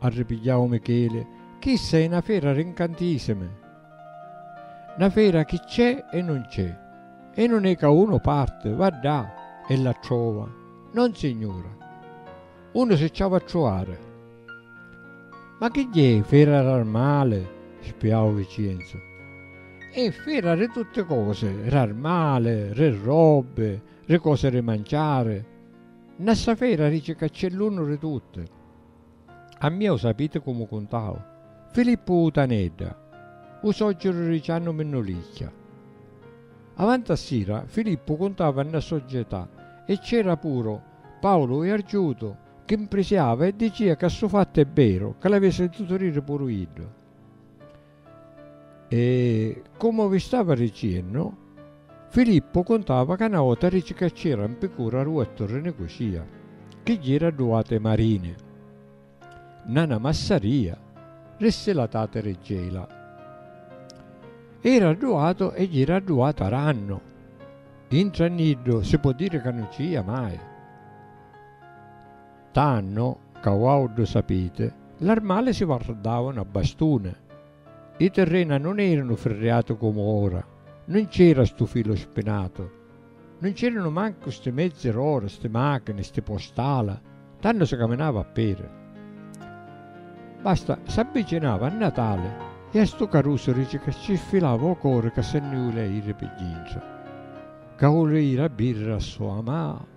Arripigghiau Micheli, Chissa è na fera ri ncantìsimi! Na fera chi cc'è e nun cc'è, e nun è ca unu parti, va ddà e la trova, nonsignura! Unu si cc'havi a truvari! Ma chi gghiè, fera r'armali? spiau Vicienzu. È fera ri tutti cosi, r'armali, ri robbi, ri cosi ri manciari. Nna ssa fera dici ca cc'è l'unu ri tutti. A mia u sapiti cu mu cuntau? Filippu u Tanedda, u soggiru ri Ciannu Minnulicchia. Avanti a sira Filippu cuntava nna soggetà e c'era puru Paulu u Iargiutu chi mprisiava e dicia ca stu fattu è beru ca l'avi sintutu diri puru iddu. E, comu vi stava ricennu, Filippu cuntava ca 'na vota rici ca c'era 'n picura ru Ettu ri Nicusia, chi jira a du ati marini, nna 'na massaria, rissi la tati ri Gela. Era adduatu e jira adduatu arannu, intra nni iddu si po' diri ca nun ci jia mai. Tannu ca uauddu sapiti, l'armali si vardavanu a bastuni. I tirrena nun eranu firriati comu ora, nun c'era stu filu spinatu, nun c'eranu mancu sti mezzi r'ora, sti machini, sti postala, tannu si caminava a peri. Basta, s'abbicinava a Natali e a stu carusu rici ca ci sfilava u cori ca si nni ulia iri pi dintra, ca ulia iri a birriri a so amata.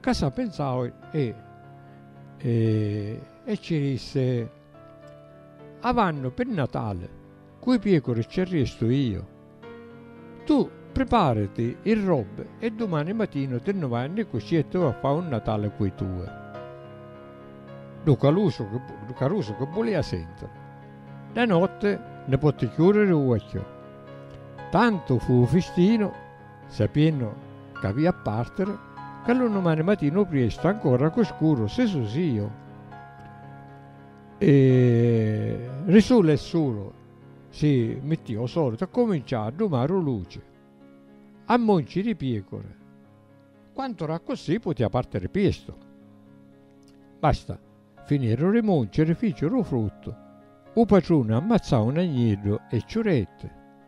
Ca sa penzau e e ci risse, Avannu pi Natali cu i piecuri ci arristu io. Tu priparati i robbi e dumani matinu ti nni vai a Nicucì e ti vai a fai un Natali cu i tui. Ddu calusu ddu carusu chi bulia sentiri. De notti nni potti chiuriri uocchiu. Tantu fu u fistinu Sapiennu ca avia a partiri, ca lu numani matinu priestu, ancora cu scuru, si susìu. E ri sulu e sulu si mittiu o solitu e cominciau a dumaru luci. A monci ri piecuri, quant'ora accussì putia partiri priestu. Basta, finieru ri monci e ri ficiru fruttu, u patruni ammazzau un agneddu e ciuretti.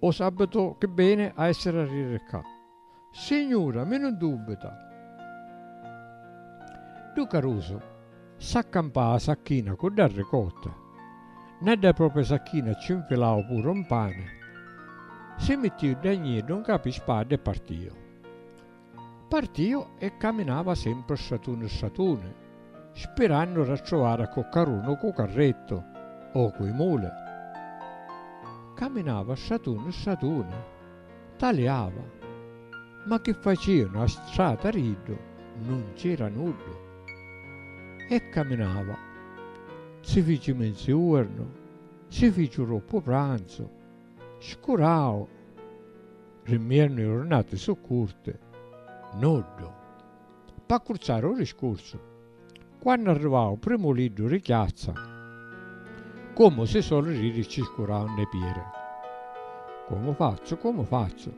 O sabbitu chi beni a essiri a riri ccà. Signura, mi nun dubbita. Ddu carusu s'accampau a sacchina cu dda ricotta. Nna dda propria sacchina cci nfilau puru un pani, si mittiu dda gniddu ncapi spadda e partiu. Partìu e caminava sempri stratuni stratuni, spirannu d'attrovari a coccarunu cu carrettu o cu i muli. Caminava stratuni stratuni, taliava, ma chi facìanu a strata d'iddu nun c'era nuddu. E caminava. Si fici menziuernu, si fici troppu pranzu, Scurau! Ri mmiernu i jurnati su' curti. Nuddu. P'accurciari u riscursu, quannu arrivau u primu liddu ri chiazza, comu si soli riri cci scurau nne pieri. Comu fazzu, comu fazzu?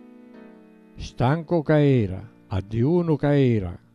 Stancu ca era, a dijunu ca era!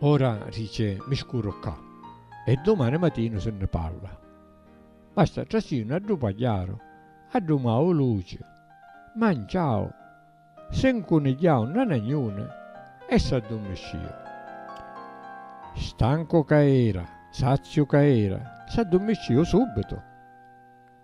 Ora, dice, mi scurru ccà e dumani matinu si nni parla. Basta trasinu a ddu pagliaru, a ddu mau luci, manciau, si ncunigghiau nna na gnuna e s'addummissciu. Stancu ca era, saziu ca era, s'addummissciu subbitu.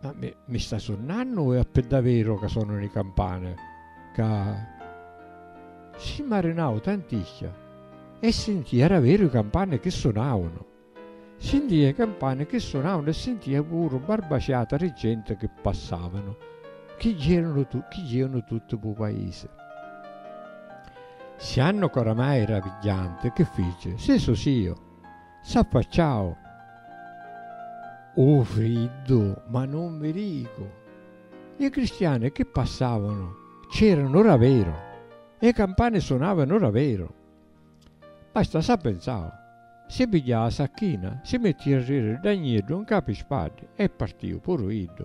Ma mi, mi sta sunnannu o è a piddavero ca sonanu li campane? Ca si marinau tanticchia e sintìa era veru i campane chi sunavanu. Sintìa i campane chi sunavanu e sintìa puru barbaciata di genti chi passavanu, chi jìanu, chi jìanu tutti p'u paisi. Siannu ca oramai era pigghianti, chi fici? Si susìu! S'affacciau u friddu ma nun mi ricu. I cristiani chi passavanu c'eranu raveru e i campani sunavanu raveru. Basta sa penzau, si pigghiau a sacchina, si mittiu a riri dda gniddu ncapi i spaddi e partiu puru iddu.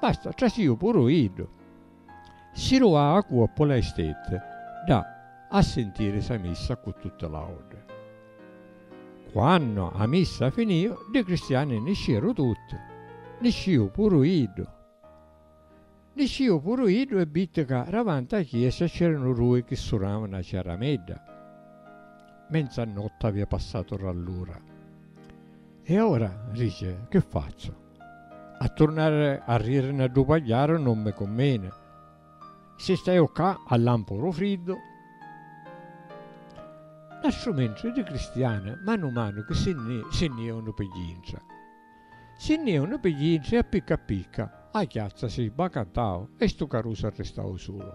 Basta, trasìu puru iddu. Si lu ha a cuoppu la istette ddà a sintiri sa missa ccu tutti l'autri. Quannu a missa finìu, ddi cristiani niscieru tutti, niscìu puru iddu. Niscìu puru iddu e vitti ca davanti a chiesa c'eranu dui chi sunàu na ciaramedda. Menzannotti avìa passatu rallura. E ora, dici, chi fazzu? A turnari a riri na ddu pagghiaru non mi cummini. Si staiu ccà a lampu ru friddu. Na strumentri di cristiani manu manu chi si nni si nni iunu pi jintra. Si nni iunu pi jintra e a picca a picca a chiazza si sbacantau e stu carusu arristau sulu.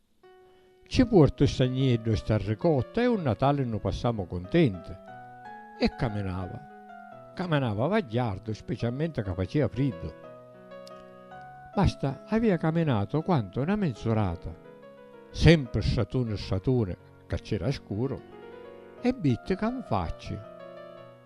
Ci puortu sta nieddu e sta ricotta e u Natali nnu passamu cuntenti. E caminava. Caminava vagghiardu specialmenti ca facia friddu. Basta avia caminatu quantu na minzurata. Sempri stratuni stratuni ca c'era scuru e vitti ca 'nfacci.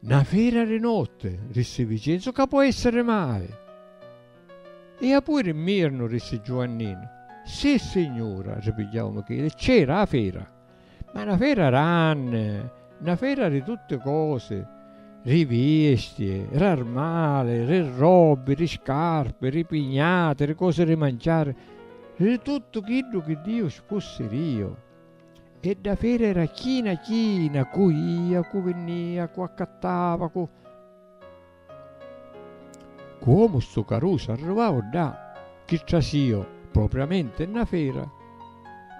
Na fera ri notti, rissi Vicenzu, ca po' essiri mai? E apui ri mirnu, rissi Giuanninu. Sissignura, ripigghiau Micheli, c'era 'a fera, ma na fera ranni, na fera ri tutti cosi, ri viesti, r'armali, ri robbi, ri scarpi, ri pignati, ri cosi ri manciari, ri tuttu chiddu chi Diu spussiriu. E dda fera era china china cu ia, cu vinnia, cu accattava, cu. Cuomu stu carusu arrivau ddà, chi trasìu propriamenti nna fera,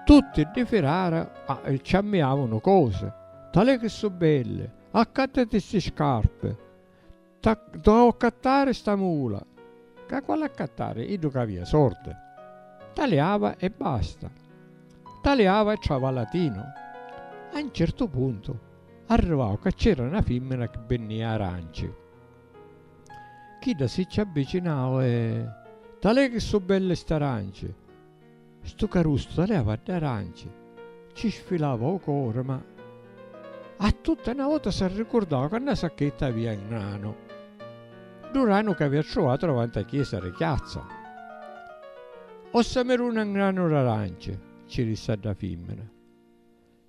tutti ddi firara e cci ammiavunu cosi, Talè chi su' belli! Accattati sti scarpi! T'ha dda accattari sta mula! Ca quali accattari? Iddu ca avia sordi, taliava e basta. Taliava e travalatinu. A 'n certu puntu arrivau ca c'era 'na fimmina chi binnia aranci. Chidda si ci avvicinau e. Talè chi su' belli st'aranci! Stu carustu taliava dd'aranci, ci sfilava 'u cori ma a tutti 'na vota s'arricurdau ca 'na sacchetta avia 'ngranu ddu ranu ca avia truvatu davanti 'a chiesa ri chiazza. Ossameruna 'ngranu d'aranci, ci rissi a dda fimmina.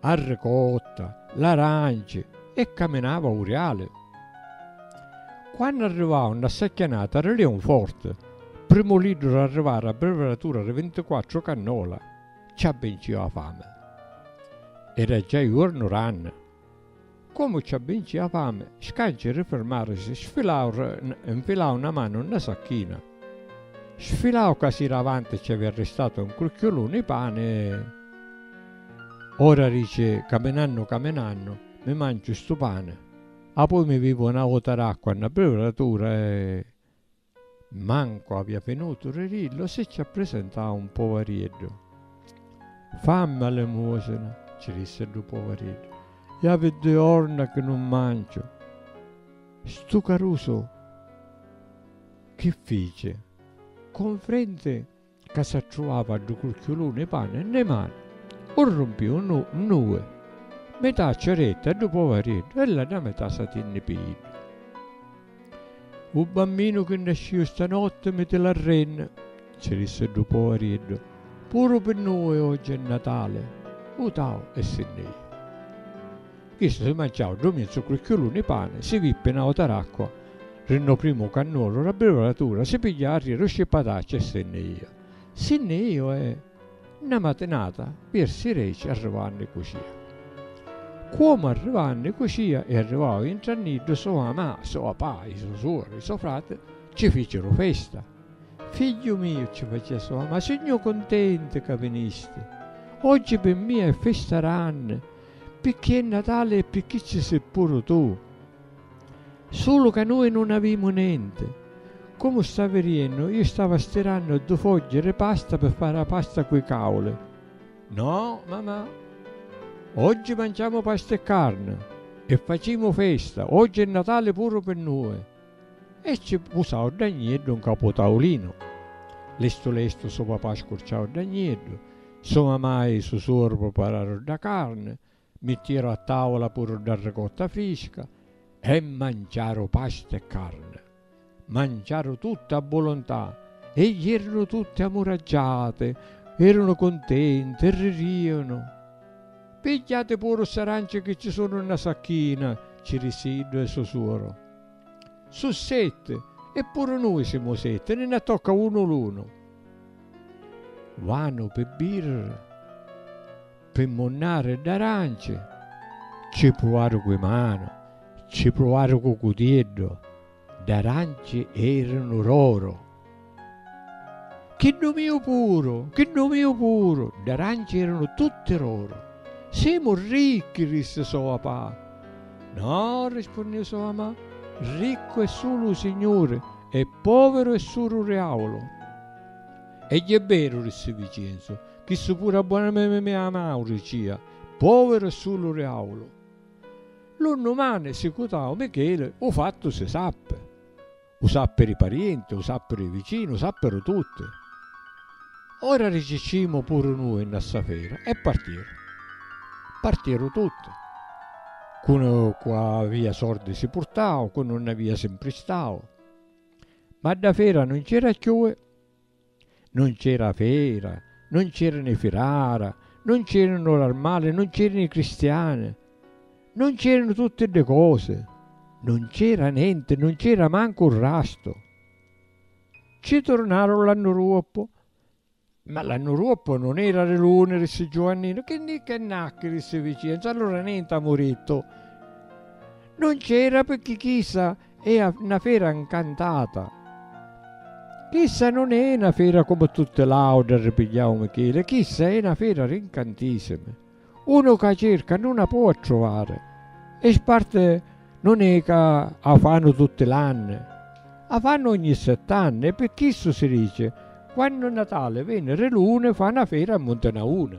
a ricotta, l'aranci e caminava a 'u riali. Quannu arrivau nna ssa chianata ri leun forti, primu liddu r'arrivari a breveratura ri vintiquattru cannola, ci abbinciu 'a fami. Era già juornu ranni. Comu ci abbinci 'a fami, Scanci ri firmarisi, sfilau ri, nfilau 'na manu nna sacchina. Sfilau ca si davanti ci avia ristatu un crucchiuluni 'i pani, ora dici, caminannu caminannu, mi manciu 'stu pani, apoi mi vivu 'na vota d'acqua nna briuratura e. Mancu avia finutu ri riddu si cci apprisintau un poveriddu. Fammi a limusina, cci dissi ddu poveriddu, i avi dui jorna chi nun manciu. Stu carusu chi fici? Confrenti ca s'attruvava ddu curchiuluni 'i pani nnê mani, 'u rrumpiu 'n nnui, mità a ceretta e ddu poveriddu e l'àtra mità s'a tinni pi iddu. U bamminu chi nascìu stanotti mi ti l'arrennu, ci dissi ddu poveriddu, puru pi nnui oggi è Natali, vutau e si nni jìu. Chistu si manciau ddu mizzu cucchiulu ni pani, si vippi na ota racqua ri nno primu cannuolu ra brivolatura, si pigghiau arrieri u scippatacci e si nni iu. Si nni iu e. Nna matinata virsi reci arrivau nni cucia. Cuomu arrivau nni cucia e arrivau intra nni iddu so mama, so papà, i so suori, i so frati ci ficiru festa. Figghiu miu ci facia so mama, sugnu cuntenti ca vinisti. Oggi pi mia è festa ranni, Picchì è Natali e picchì ci si' puru tu. Sulu ca nui nun avimu nenti. Comu stavi riennu, iu stava stirannu du' fogghi ri pasta pi fari 'a pasta cu 'i cauli. No, mamà. Oggi manciamu pasta e carni. E facimu festa. Oggi è Natali puru pi nui. E cci pusau dda gnieddu 'n capu taulinu. Lestu lestu su papà scurciau dda gnieddu, su mamai i su suoru prupararu dda carni, mittieru a taula puru dda ricotta frisca e manciaru pasta e carni. Manciaru tutti a vuluntà e ierunu tutti amuraggiati, erunu cuntenti e ririanu. Pigghiati puru sti aranci chi cci sunu nna sacchina, cci rissi iddu e su suoru. Su' setti, e puru nui simu setti, ni nna tocca unu l'unu. Vanu pi birra, pi munnari d'aranci, ci pruvaru cu 'i manu, ci pruvaru cu cutieddu, d'aranci erinu roro. Chiddu miu puru, chiddu miu puru! D'arancia eranu tutti r'oru. Semu ricchi! rissi so papà. No! rispunniu so mamà. Riccu è sulu u Signuri e poviru è sulu Riaulu. E jè beru, rissi Vicenzu, chissu puru a bona me mia mauri cia, poviru è sulu Riaulu. Lu nnumani sicutau Micheli, u fattu si sappi. U sappiri parienti, u sappiri vicinu, u sappiru tutti. Ora riciccimu puru nui nna ssa fera e partiru. Partiru tutti. Cunu cu avia sordi si purtau, cu nun n'avia si mpristau. Ma dda fera nun c'era cchiui. Nun c'era fera, nun c'erani firara, nun c'eranu l'armali, nun c'eranu i cristiani, nun c'eranu tutti ddi cosi, nun c'era nenti, nun c'era mancu un rastu. Ci turnaru l'annu ruoppu. Ma l'annu ruoppu nun era ri l'uni, rissi Giuanninu, chi nni c'è nacchi, rissi Vicienzu, allura nenti amu rittu. Nun c'era picchì chissa. È a na fera 'ncantata. Chissa nun è na fera comu tutti l'autri arripigghiau Micheli, chissa è na fera d'incantissimi. Unu ca cerca nun a pò attrovari. E sparti nun è ca a fannu tutti l'anni. A fannu ogni sett'anni e pi chissu si dici, quannu Natali veni ri luni fa na fera a Muntinauni.